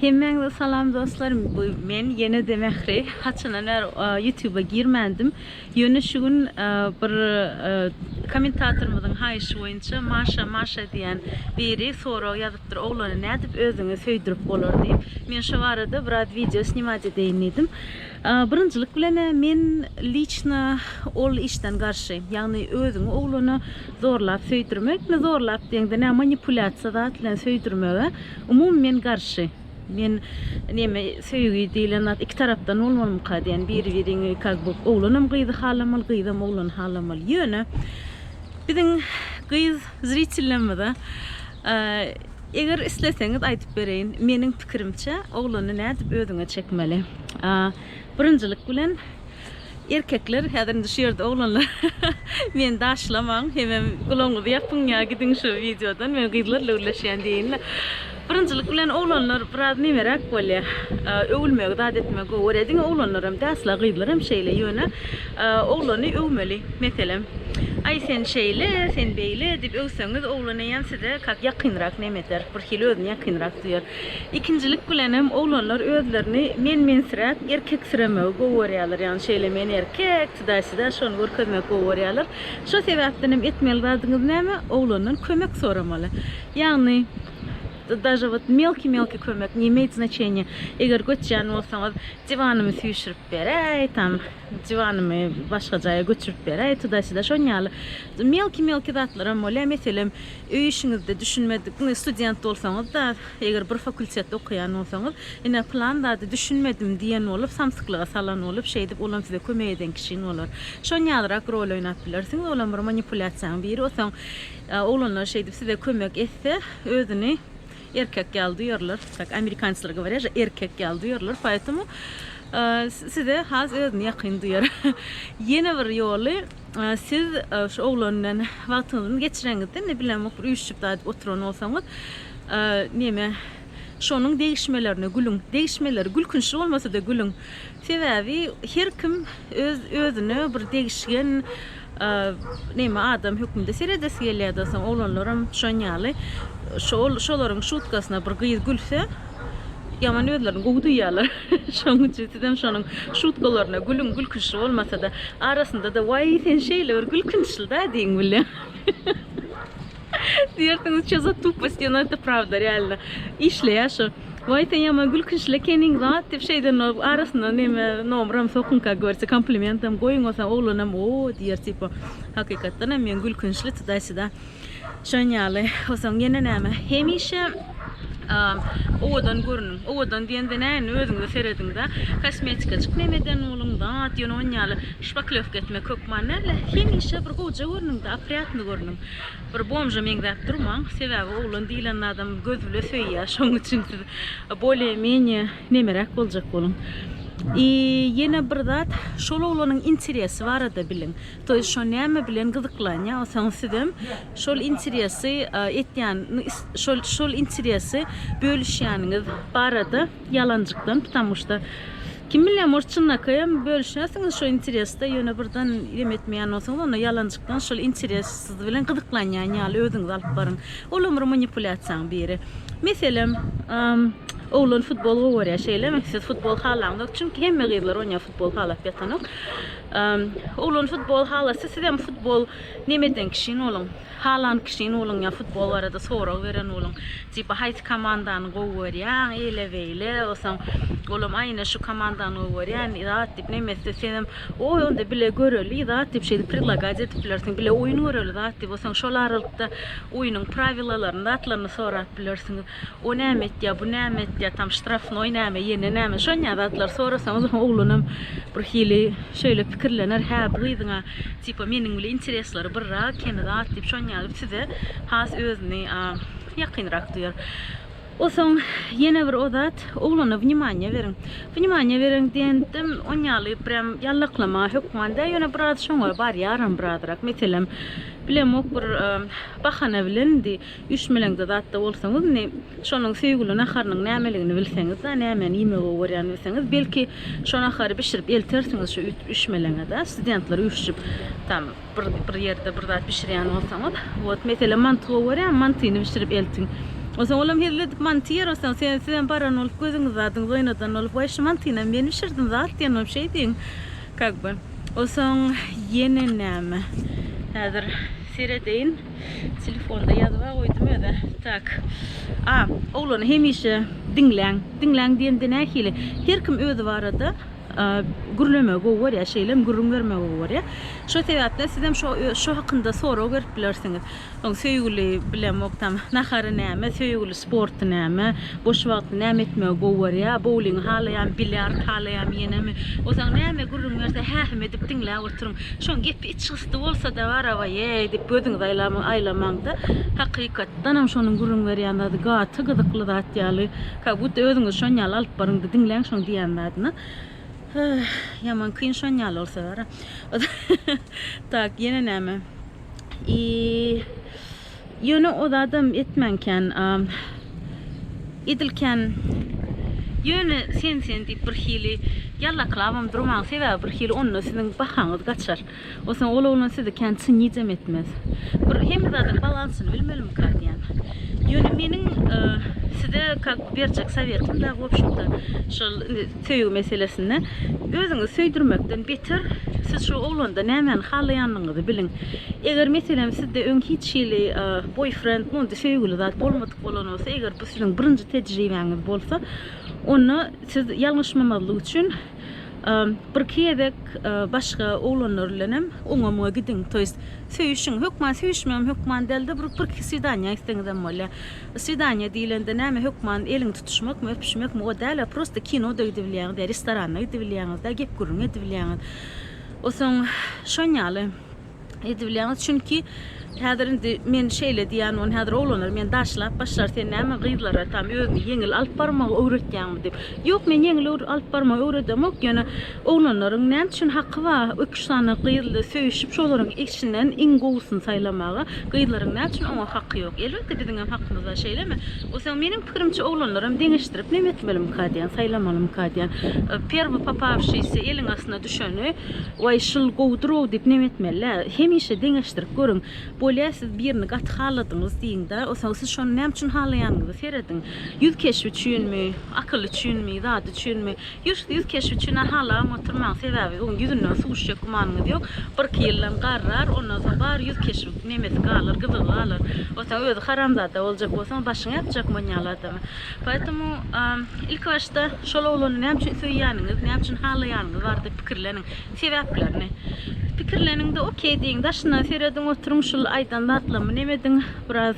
Hemmäňize salam dostlar bu men ýenede Mähri haçandan bäri ýutuba girmändim ýöne şu gün bir kommentatorymyzyň haýyşy boýunça Maşa Maşa diýen biri sorag ýazypdyr oglany nädip özüňe söýdürip bolar diýip men şo barada biraz wideo snimat edeýin diýdim Birinjilik bilen men liçno ol işden garşy. Ýagny özüňi oglana zorlap söýdürmek, ne zorlap diýeňde nä manipulýasiýa zat bilen söýdürmege umumy men garşy. Men neme söýgi diýilen zat iki tarapdan bolmalymyka diýen biri biriňi kak bu oglanam gyzy halamaly gyzam oglany halamaly. Ýöne biziň gyz zritellerimize Eger isleseňiz aýdyp bereýin. Meniň pikirimçe oglany nädip özüňe çekmeli? Birinjilik bilen erkekler häzir indi şu ýerde oglanlar meni daşlamaň hemem gulagyňyzy ýapyň ýa gidiň şu wideodan men gyzlarla gürleşýän diýinle. Birinjilik bilen oglanlar biraz nemeräk bolýar. Öwülmegi zat etmegi gowy görýär. Diňe oglanlaram däl asla gyzlaram şeýle ýöne Oglany öwmeli. Meselem, Aý, sen şeýle, sen beýle diýip öwseňiz, oglan eýýäm size kak ýakynrak nemeter, birhili özüni ýakynrak duýar. Ikinjilik bilenem oglanlar özlerini men-mensiräk, erkeksiremegi gowy görýärler. Ýagny şeýle men erkek, tudaý-sudaý şony görkezmegi gowy görýärler. Şo sebäpdenem etmeli zadyňyz näme, oglandan kömek soramaly. Ýagny daže wot melki-melki kömek, ne imeýt znaçeniýe, eger göçýän bolsaňyz, Diwanymy süýşürip beräý, tam diwanymy başga jaýa göçürip beräý, tuda-syda şon ýaly melki-melki zatlaram bolýar. Meselem, öý işiňizde düşünmedik, indi student bolsaňyz-da, eger bir fakultetde okaýan bolsaňyz, ine, pylan zady düşünmedim diýen bolup, samsyklyga salan bolup, şeýdip, olam size kömek eden kişiň bolar. Şon ýalyrak rol oýnap bilersiňiz, olam bir manipulýasiýaň biri. Onsoň oglanlar şeýdip size kömek etse, özüni. Erkek ýaly duýarlar, tak amerikançylar goworýa že erkek ýaly duýarlar, poetomu size has özüni ýakyn duýar. Ýene bir ýoly siz şu oglan bilen wagtyňyzy geçireňizde indi bilemok bir üýşjip zat oturan bolsaňyz neme şonuň degişmelerine gülüň, degişmeleri gülkünçli bolmasa-da gülüň. Sebäbi her kim öz özüne bir degişgen neme adam hökmünde seredesi gelýärdi soň oglanlaram düşen ýaly şol şolaryň şutkasyna bir gyz gülse ýaman özlerini gowy duýýarlar şonuň üçin sizem şonuň şutkalaryna gülüň gülkünçli bolmasada arasynda-da waý sen şeýle bir gülkünçlida diýiň bilýän. Diýersiňiz, ço za tuposti, no to prawda, realno. Işleýär şu. Waý sen ýaman gülkünçli ekeniň zat diýip şeýden arasyna neme nomram sokunka görse komplimentam goýuň bolsa oglanam o diýer tipo. Hakykatdanam men gülkünçli tuda syda. Şon ýaly. Osaň ýene näme? Hemişe owadan görüniň. Owadan diýende näini özüňize serediňda. Kosmetikajyk nemeden boluň zat ýöne on ýaly şpaklewka etmek hökman näle. Hemişe bir gowja görüniňda, oprýatny görüniň. Bir bomža meňzäp durmaň, sebäbi oglan diýlen adam göz bile söýýär, şoň üçin siz bolye menye nemeräk boljak boluň. I ýene bir zat, şol oglanyň interesi barada biliň. To ýest şo näme bilen gyzyklanýa bolsaňyz sizem şol interesi etýän şol şol interesi bölüşýäniňiz barada. Ýalanjykdan ptamuşda kim bilýär может çynlakaýam bölüşersiňiz şo interesde ýöne birden ýem etmeýän bolsaňyz onda ýalanjykdan şol interes siz bilen gyzyklanýan ýaly özüňizi alyp baryň ol hem bir manipulýasiýaň biri meselem oglan futbol gowy görýär şeýlemi siz futbol halaňyzok çünki hemme gyzlar oýnaýar futbol halap ýatanok oglan futbol halasy sizem futbol neme eden kişi boluň Halan kişini boluň ýa futbol barada sorag beren boluň. Tipa haýsy komandany gowy görýäň, eýle beýle, osaň olam aý ine şu komandany gowy görýän zat diýip nemesde senem oý onda bile göreli zat diýip şeýdip predlagad edip bilersiň bile oýun göreli zat diýip osaň şol aralykda oýunyň prawilalaryny zatlaryny sorap bilersiňiz. O näme etýär, bu näme etýär, tam ştrafnoý näme, ýene näme, şonýa zatlary sorasaňyz hem oglanam bir hili şeýle pikirlener, hä, bu gyzyň-a tipa meniň bile interesleri birrak, kemi zat diýip, şonýa gelip size has özüni ýakynrak duýar. Osoň ýene bir o zat, oglana wnimaniýa beriň. Wnimaniýa beriň diýendim, on ýaly prýam ýallaklamaga hökman däl, ýöne biraz şoňa barýaram birazrak. Meselem, bilemok bir bahana bilendi. Üşmeleňde zatda bolsaňyz, indi şonuň söýgüli naharynyň nämeligini bilseňiz-de, nämäni iýmegi gowy görýänini bilseňiz, belki, şo nahary bişirip eltersiňiz şu üşmeleňe-de. Studentler üýşüp, tam bir, bir ýerde bir zat bişirýän bolsaňyz. Wot, meselem, manty gowy görýän, mantyny bişirip eltiň. Onsoň olam hezil edip manty ýer, onsoň siz, sizem baran bolup, gözüňizi zadyňyzy oýnadan bolup, Waý, şu mantynam men bişirdim zat diýen bolup şeý diýiň, kak by. Onsoň ýene näme? Häzir seredeýin. Telefonda ýazyba goýdum öze. Tak. A, oglany hemişe diňläň. Diňläň diýende nähili? Her kim özi barada gürlemegi gowy görýär, şeýlem gürrüň bermegi gowy görýär. Şo sebäpden sizem şo şo hakynda sorag berip bilersiňiz. Soň söýgüli bilemok tam nahary näme, söýgüli sporty näme, boş wagty näme etmegi gowy görýär, bouling halaýan, bilýard halaýan ýenemi. Ozaň näme gürrüň berse hähim edip diňläp oturyň. Şoň gepi içgysdy bolsa-da garabaýeý diýip gözüňizi aýlamaňda hakykatdanam şonuň gürrüň berýän zady gaty gyzykly zat ýaly ka but özüňizi şon ýaly alyp baryňda diňläň şoň diýýän zadyny Höh ýaman kyn şon ýaly bolsa bara tak ýene näme iý. Ýöne o zadam etmäň kän. Edil kän. Ýöne sen sen diýip bir hili ýallaklabam durmaň sebäbi bir hili onda siziň bahaňyz gaçar. O soň ol oglan sizi kän çynyjem etmez. Bir hemme zadyň balansyny bilmelimika diýän. Ýöne meniň size kak berjek sowetim da wobşemda şol indi Söýgi meselesinde özüňizi söýdürmekden beter, siz şu oglanda nämäni halaýanyňyzy biliň. Eger meselem sizde öň hiç hili boýfrend, mundy söýgüli zat bolmadyk bolan bolsa, eger bu siziň birinji tejribäňiz bolsa, onda siz ýalňyşmamazlyk üçin birki gezek başga oglanlar bilen hem oňa-muňa gidiň. To ýest söýüşiň, hökman söýüşmegem hökman däl-de, bir birki swidaniýa gitseňizem bolýar. Swidaniýa diýlende näme hökman elini tutuşmakmy, öpüşmekmi o däl-ä, prosta kino-da gidibilýäňiz ýa restoranda gidibilýäňiz-dä, gep-gürrüň edibilýäňiz. O soň şon ýaly edibilýäňiz. Çünki häzir indi men şeýle diýýän boln häzir oglanlar meni daşlap başlar sen näme gyzlara tam özüni ýeňil alyp barmagy öwretýäňmi diýip. Ýok men ýeňil alyp barmagy öwredemok ýöne Oglanlaryň näme üçin haky bar iki üç sany gyzly söýüşip şolaryň içinden iň gowysyny saýlamaga gyzlaryň näme üçin oňa haky ýok elbetde biziň hem hakymyz bar şeýlemi oseň meniň pikirimçe oglanlaram deňeşdirip neme etmelimika diýen saýlamalymyka diýen perwy popawşiýsy eliň astyna düşeni waý şul gowudyrow diýip neme etmelä hemişe deňeşdirip görüň bolýa siz birini gaty haladyňyz diýiňdä oseň siz şony näme üçin halaýanyňyzy serediň ýüz keşbi üçinmi akyly üçinmi zady üçinmi Ýuws ýüz keşbi üçin ahalagam oturmaň, sebäbi öň ýüzünden suw üşjek gümanyňyz ýok. Bir iki ýyldan garrar, ondan soň bar ýüz keşbiň nemesi galar, gyzygy galar. Onsoň özi haramzada boljak bolsaň başyňy ýapjak man ýaly adama. Poetemu ilki başda şol oglany näme üçin söýýäniňiz, näme üçin halaýanyňyz barada pikirleniň. Sebäplerini. Pikirleniňde okey diýiň, daşyndan serediň, oturyň şul aýdan zatlarymy nemediň biraz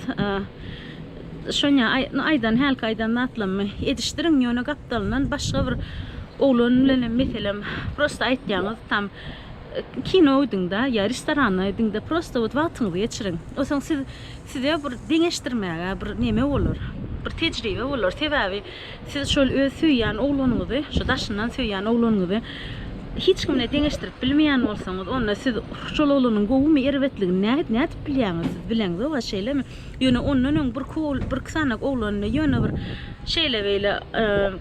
Şonýa aýdan hälki aýdan zatlammy edişdiriň ýöne gapdalyndan başga bir oglan bilenem meselem prosta aýtýaňyz tam kino gidiňda ýa restorana gidiňda prosta wot wagtyňyzy geçiriň onsoň siz size bir deňeşdirmäge bir neme bolar bir tejribe bolar sebäbi siz şol öz söýýän oglanyňyzy şu daşyndan söýýän oglanyňyzy hiç kimle deňeşdirip bilmeýän bolsaňyz onda siz şol oglanyň gowumy erbetligini nädip nädip bilýäňiz siz bileňzok-a şeýlemi. Ýöne ondan öň birki ogl birki sany oglanyny ýöne bir şeýle beýle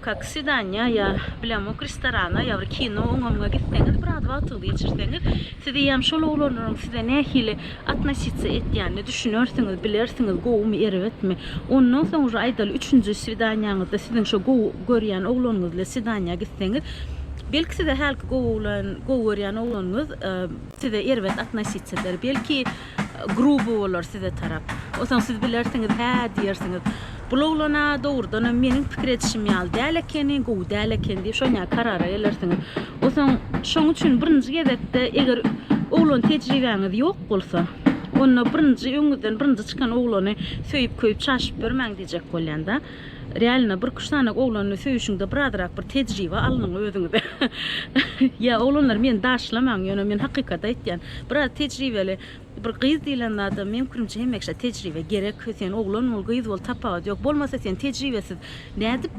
kak swidaniýa ýa bilemok restorana ýa bir kino oňamga gitseňiz biraz wagtyňyzy geçirseňiz sizi ýam şol oglanlaryň size nähili atnositsiýa etýänini düşünersiňiz bilersiňiz gowumy erbetmi ondan soň uje aýdaly üçünji swidaniýaňyzda siziň şo gowy görýän oglanyňyz bilen swidaniýa gitseňiz belki size hälki gowy oglan gowy görýän oglanyňyz size erbet atnositsiýa eder belki gruby bolar size tarap. Osaň siz bilersiňiz, hä diýersiňiz. Bul oglan-a dogrudanam meniň pikir edişim ýaly däl ekeni, gowy däl ekeni diýip şonýa karara gelersiňiz. Osaň şoň üçin birinji gezekde eger oglan tejribäňiz ýok bolsa, onda birinji öňüňizden birinji çykan oglany söýüp-köýüp çaşyp ýörmäň diýjek bolýan-da. Realno bir üç sany oglanla söýüşiňde birazrak bir tejribe alnyň özüňize. Ýa oglanlar meni daşlamaň ýöne men hakykat aýtýan. Biraz tejribeli bir gyz diýlen zada meň pikirimçe hemekşe tejribe gerek. Sen oglan bol gyz bol tapawut ýok. Bolmasa sen tejribesiz nädip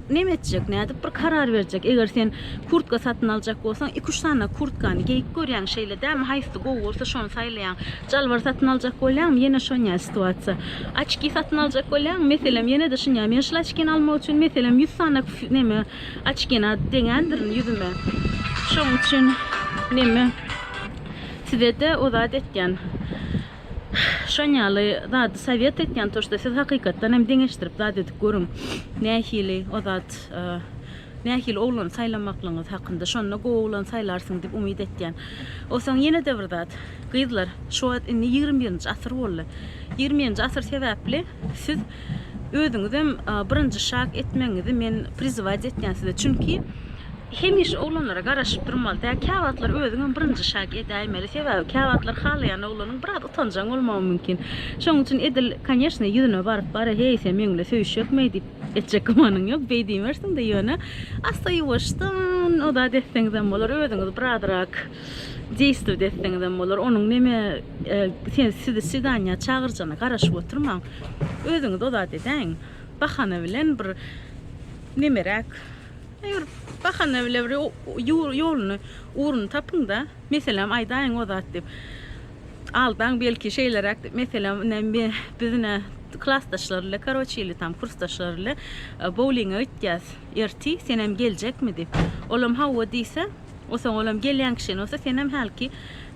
neme etjek nädip bir karar berjek. Eger sen kurtka satyn aljak bolsaň iki üç sany kurtkany geýip görýäň şeýle dämi haýsy gowy bolsa şony saýlaýaň. Jalbar satyn aljak bolýaňmy? Ýene şonýa situasiýa. Oçki satyn aljak bolýaňmy? Meselem, ýene-de şunýa. Men şul oçkini almak üçin, meselem, ýüz sany neme, oçkini deňändirin ýüzüme. Şoň üçin neme, size-de o zat etýän. Şon ýaly zady sowet etýän, to, şda siz hakykatdan hem deňeşdirip zat edip görüň. Nähili o zat, Nähili oglan saýlamaklygyňyz hakynda, şonda gowy oglan saýlarsyň diýip umyt etýän. Onsoň ýene-de bir zat, gyzlar, şu wagt indi ýigrimi birinji asyr boldy. Ýigrimi birinji asyr sebäpli siz özüňizem birinji şak etmegiňizi men prizywać etýän size. Çünki hemişe oglanlara garaşyp durmaly däl. Käwagtlar özüňem birinji şak edäýmeli. Sebäbi käwagtlar halaýan oglanyň biraz utanjaň bolmagy mümkin. Şonuň üçin edil, koneşne, ýüzüne baryp, Bara, heý, sen meň bilen söýüşjekmi? diýip, Etjek gümanyň ýok, beý diýmersiň-de ýöne, assa ýuwaşdan o zat etseňizem bolar, özüňiz birazrak deýstw etseňizem bolar, onuň neme sen sizi swidaniýa çagyrjana garaşyp oturmaň, özüňiz o zat edäýiň, bahana bilen bir nemeräk, bir bahana bilen bir ýolyny, ugruny tapyň-da. Meselem, aýdaýyň o zat diýip, aldaň belki şeýleräk diýip, meselem, ine, men, biz ine klasdaşlar ile, karoçe ili tam kursdaşlar ile boulinge gitýäs erti, senem geljekmi diýip. Olam hawa diýse, osaň olam gelýän kişi bolsa, senem hälki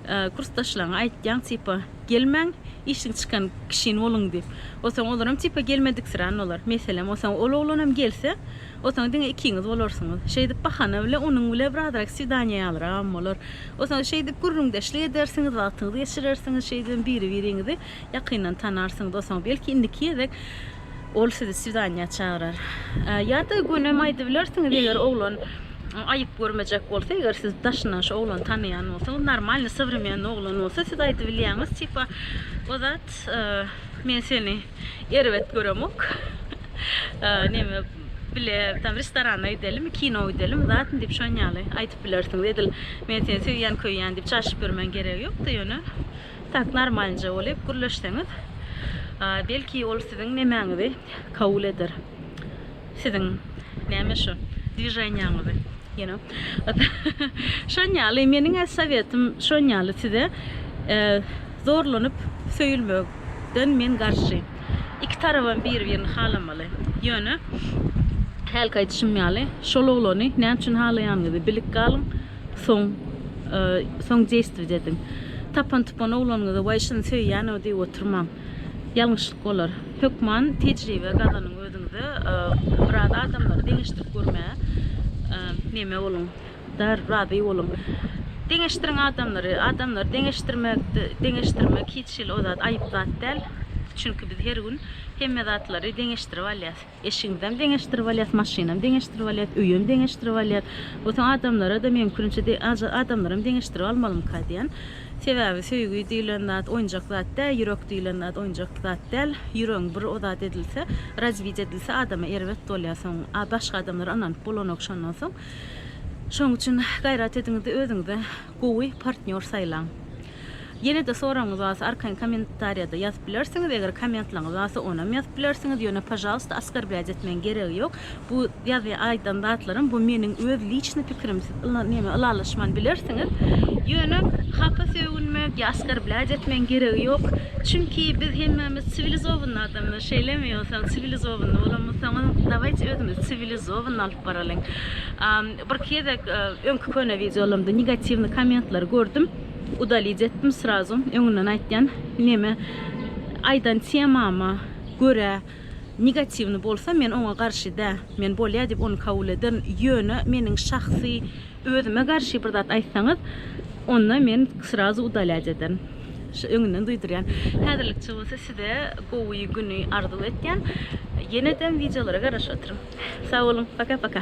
kursdaşlaryňa aýtýaň, tipa, gelmäň, işiň çykan kişin boluň diýip. Osaň olaram tipa gelmediksirän bolar. Meselem, osaň ol oglanam gelse, Osaň diňe ikiňiz bolarsyňyz. Şeýdip bahana bile onuň bile birazrak swidaniýa ýalyragam bolar. Osaň şeýdip gürrüňdeşlik edersiňiz, wagtyňyzy geçirersiňiz, şeýdibem biri-biriňizi ýakyndan tanarsyňyz. Osaň belki indiki gezek ol sizi swidaniýa çagyrar. Ýa-da gönem aýdybilersiňiz, eger oglan aýyp görmejek bolsa, eger siz daşyndan şu oglany tanaýan bolsaňyz, normalny, sowremenny oglan bolsa, siz aýdybilýäňiz, tipa, Ozat, men seni. Erbet göremok. Neme bile tam restorana gidelim, kino gidelim, zatyn diýip şon ýaly aýdyp bilersiňiz. Edil men seni söýýän, köýýän diýip çaşyp ýörmäň geregi ýokdy, ýöne tak normalnja bolýup gürleşseňiz, belki ol siziň nemäňizi kabul eder. Siziň näme şu dwiženiýaňyzy you know. Şon ýaly meniň-ä sowetym şon ýaly size zorlanyp söýülmekden men garşy. Iki tarabam biri-birini halamaly. Ýöne hälki aýdyşym ýaly şol oglany näme üçin halaýanyňyzy bilip galyň soň soň deýstwit ediň. Tapan-tupan oglanyňyza waý şuny söýýän-ow diýip oturmaň. Ýalňyşlyk bolar. Hökman tejribe gazanyň özüňize biraz adamlary deňeşdirip görmäge neme boluň dar razy boluň. Deňeşdiriň adamlary, adamlary deňeşdirmek deňeşdirmek hiç hili o zat aýyp zat däl. Çünki biz her gün hemme zatlary deňeşdirip alýas. Eşigiňizem deňeşdirip alýas, maşynam deňeşdirip alýas, öýem deňeşdirip alýas. Bu soň adamlara-da mümkinçe de, aja, adamlaram deňeşdirip almalymyka diýen. Sebäbi söýgi diýlen zat oýunjak zat däl, ýürek diýlen zat oýunjak zat däl. Ýüregiň bir o zat edilse, razbit edilse adama erbet bolýar soň. A başga adamlar ynanyp bolanok şondan soň. Şoň üçin gaýrat ediňizde özüňize gowy partnýor saýlaň. Ýene-de soragyňyz barsa arkaýyn kommentariýada ýazyp bilersiňiz, eger kommentlaryňyz barsa onam ýazyp bilersiňiz, ýöne pažalysta askarblýat etmegiň geregi ýok. Bu ýazýan aýdan zatlarym bu meniň öz liçny pikirim siz yla neme ylalaşman bilersiňiz. Ýöne hapa sögünmek ýa askarblýat etmegiň geregi ýok. Çünki biz hemmämiz siwilizowny adamlar şeýlemi ýogsam siwilizowny bolan bolsaňyz dawaýçy özüňizi siwilizowny alyp baralyň. Birki gezek öňki köne wideolarymda negatiwny kommentleri gördüm. Udalij etdim srazu öňünden aýtýan neme aýdan temama görä negatiwny bolsa men oňa garşy dä men bolýa diýip ony kabul ederin ýöne meniň şahsy özüme garşy bir zat aýtsaňyz onda men srazu udalij ederin şu öňünden duýdurýan häzirlikçe bolsa size gowy güni arzuw etýän ýenedem wideolara garaşyp oturyň sag boluň paka paka.